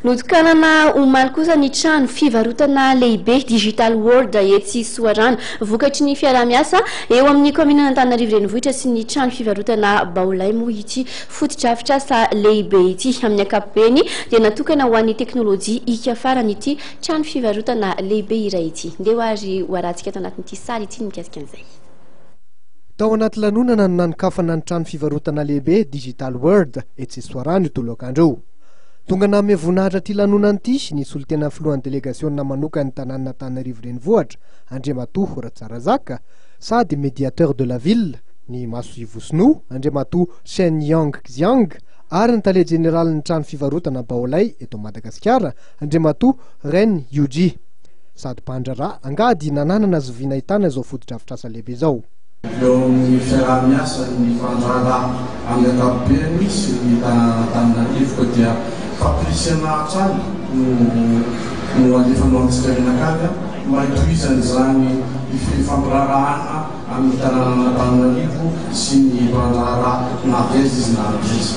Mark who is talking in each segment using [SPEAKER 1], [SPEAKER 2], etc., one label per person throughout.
[SPEAKER 1] Notokanana omaly kosa ny trano fivarotana lehibe Digital World etsy Soarano. Vokatry ny fiaraha-miasa eo amin'ny kaominin'Antananarivo Renivohitra sy ny trano fivarotana Baolay moa ity fotodrafitrasa lehibe ity. Amin'ny ankapobeny dia natokana ho an'ny teknolojia ika farany ity trano fivarotana lehibe iray ity. Ndeha ary ho arahantsika ato anatin'ity sary ity ny mikasika an'izay.
[SPEAKER 2] Tao anaty lanonana no nanokafana ny trano fivarotana lehibe Digital World etsy Soarano io tolokandro io. Tonga nanome voninahitra ity lanonana ity ny solontenan'ny filohan'ny delegasiona manokan'ny tanànan'Antananarivo Renivohitra, Andriamatoa Ratsarazaka, sady Mediateur de la Ville, ny masoivoho sinoa, Andriamatoa Chen Yangxiang, ary ny tale jeneralin'ny trano fivarotana Baolai eto Madagasikara, Andriamatoa Ren Yuji, sady mpandraharaha, angady nananana azy vy nahitana izao fotodrafitrasa lehibe izao. Eo amin'ny
[SPEAKER 3] fiaraha-miasan'ny fandraharaha amin'ny ankapobeny sy ny tanànan'Antananarivo dia fapirisihana hatrany no alefanao antsika mianakavy mba hitohizana izany fifampiraharahana amin'ny tanànan'Antananarivo sy ny mpandraharaha na avy aiza izy na avy aiza.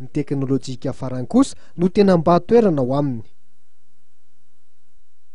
[SPEAKER 2] Ny teknolojika farany kosa no tena mba toerana ao aminy.